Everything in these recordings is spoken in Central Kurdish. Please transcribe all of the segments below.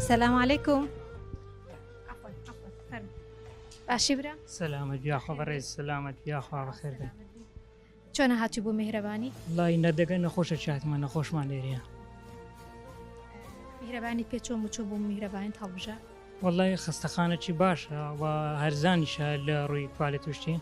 سلام علیکم باشی برا سلامت یاخوا بەڕێز سلامت یاخوا بەخێر بێت چۆنە هاتی بوو میهرەبانی لای نەدەگە نەخۆشە چاتمە نەخۆشمان لێریە میهرەبانی پێچۆ مچۆ بوو میهرەبانی هەڵبژە وەڵی خستەخانەکی باشە و هەرزانیشە لە ڕووی کوالێت توشتی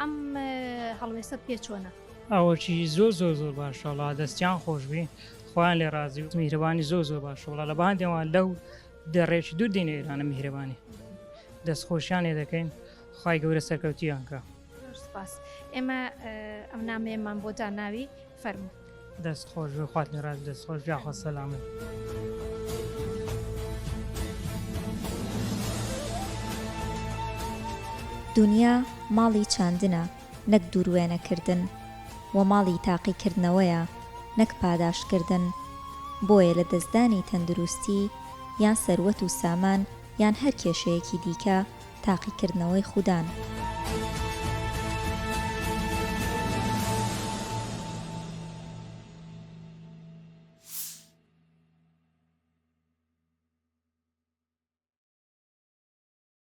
ئەم هەڵوێستەت پێ چۆنە؟ ئەوەکی زۆر زۆر زۆر باشە وڵا دەستیان خۆشببی خۆیان لێ ڕازی و میهرەبانی زۆر زۆر باش وڵا لە باندێەوە لەو دەڕێکی دوو دینە ئێرانە میهرەبانی دەستخۆشیان لێ دەکەین خی گەورە سەرکەوتیانکە ئێمە ئەم نامەیەمان بۆ داناوی فەرمو دەست خۆش بێ خواتنی ڕاست دەست خۆش جاخۆ سەلامت. دنیا ماڵی چاندنە نەک دووروێنەکردن و ماڵی تاقیکردنەوەیە نەک پاداشتکردن بۆیە لە دەستدانی تەندروستی یان سەروەت و سامان یان هەر کێشەیەکی دیکە تاقیکردنەوەی خودان.